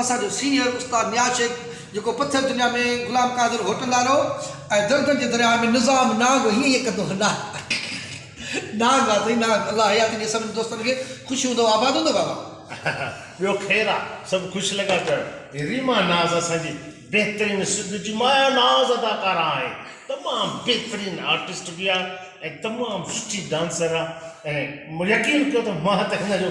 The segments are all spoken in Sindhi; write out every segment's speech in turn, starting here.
اسان جو سينئر استاد نياز شيخ جيڪو پٿر دنيا ۾ غلام قادر هوٽندا رهو ۽ دردن جي درياهه ۾ نظام نانگ هيئن هيئن ڪندو هو نانگ آ نانگ آ سائين نانگ الله حياتي ڏي سڀني دوستن کي خوش هوندو آباد هوندو بابا. ٻيو خير آ سڀ خوش لڳا چوڻ. ريما ناز اسان جي بهترين سنڌ جي مايا ناز اداڪارا آهي تمام بهترين آرٽسٽ به آ ۽ تمام سٺي ڊانسر آ ۽ يقين ڪيو ته مان ته هن جو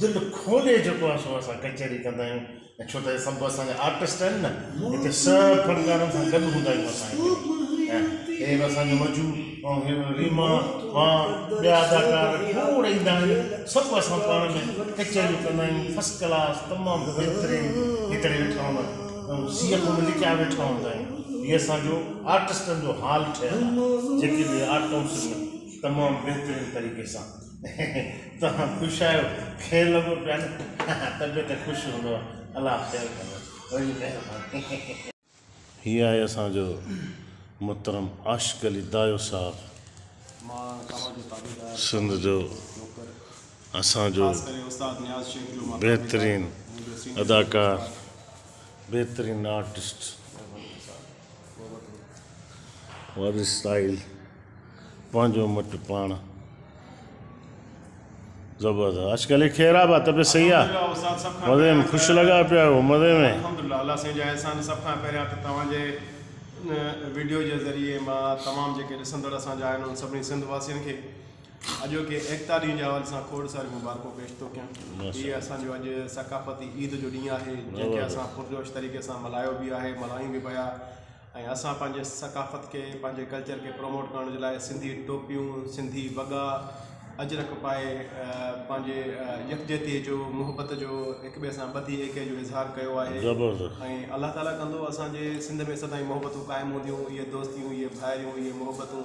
دل کولي جيڪو آ سو اسان ڪچهري ڪندا آهيون ۽ ڇو ته هي سڀ اسان جا آرٽسٽ آهن نه هتي سڀ فنڪارن سان گڏ هوندا آهيون اسان هتي ۽ هي به اسان جو مجو ۽ هي به ريما مان ٻيا اداڪار کوڙ ايندا آهن سڀ اسان پاڻ ۾ ڪچهريون ڪندا آهيون فسٽ ڪلاس تمام بهترين هي ڪري ويٺا هوندا آهيون ۽ سيء ڪم لڪيا ويٺا هوندا آهيون هي اسان جو آرٽسٽن جو هال ٺهيل آ جيڪي به آرٽ ڪائونسل ۾ تمام بهترين طريقي سان توهان خوش آهيو کير لڳو پيا نه طبيعت خوش هوندو الله خير ڪندو وڏي مهرباني. هي آهي اسان جو محترم عاشق علي دايو صاحب سنڌ جو اسان جو بهترين اداڪار بهترين آرٽسٽ. وارث ساحل پنهنجو مٽ پاڻ زبردست آج کل خير آباد طبيعت صحيح آ مزي ۾ خوش لگا پيا آهيو مزي ۾ الحمدلله الله سائين جا احسان سڀ کان پهريان ته توهان جي ان ويڊيو جي ذريعي مان تمام جيڪي ڏسندڙ اسان جا آهن انهن سڀني سنڌ واسين کي اڄوڪي ايڪتا ڏينهن جي حوالي سان کوڙ ساريون مبارڪون پيش ٿو ڪيان هي اسان جو اڄ ثقافتي عيد جو ڏينهن آهي جنهن کي اسان پرجوش طريقي سان ملهايو به آهي ملهايون به پيا ۽ اسان پنهنجي ثقافت کي پنهنجي ڪلچر کي پروموٽ ڪرڻ جي لاء سنڌي ٽوپيون سنڌي وڳا اجرڪ پائي پنهنجي يڪجهتي جو محبت جو هڪ ٻئي سان ٻڌي ايڪي جو اظهار ڪيو آهي ۽ الله تعاليٰ ڪندو اسان جي سنڌ ۾ سدائين محبتون قائم هونديون اهي دوستيون اهي ڀائريون اهي محبتون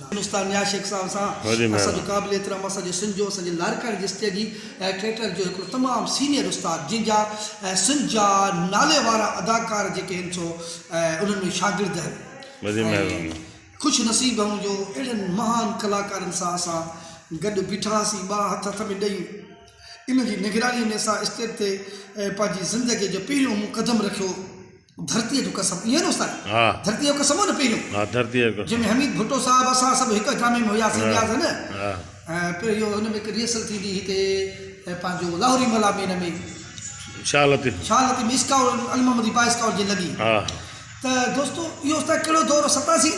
گلستان نياز شيخ صاحب سان اسان جو قابل احترام اسان جو سنڌ جو اسان جي لاڙڪاڻي جي اسٽيجي ٽيئٽر جو هڪڙو تمام سينئر استاد جن جا سنڌ جا نالي وارا اداڪار جيڪي هن سو انهن ۾ شاگرد آهن ۽ خوش نصيب آهون جو اهڙن مهان ڪلاڪارن سان اسان گڏ بيٺا هئاسين ٻا هٿ هٿ ۾ ڏئي ان جي نگراني ۾ اسان اسٽيج تي پنهنجي زندگي جو پهريون مون قدم رکيو. ڌرتيء جو قسم، ايئن نه استاد؟ ها. ڌرتيء جو قسم هو نه پهريون. ها ڌرتيء جو قسم. جنهن ۾ حميد ڀٽو صاحب اسان سڀ هڪ جامي ۾ هياسين ها نياز هن ها. پهريون اهو هن ۾ هڪ ريهرسل ٿيندي هئي هتي پنهنجو لاهوري ملا ۾ هن ۾ شاهه لطيف شاهه لطيف ۾ اسڪائو المحمدي با اسڪائوٽ جي لڳي ها. ته دوستو اهو استاد ڪهڙو دور هو ستاسين.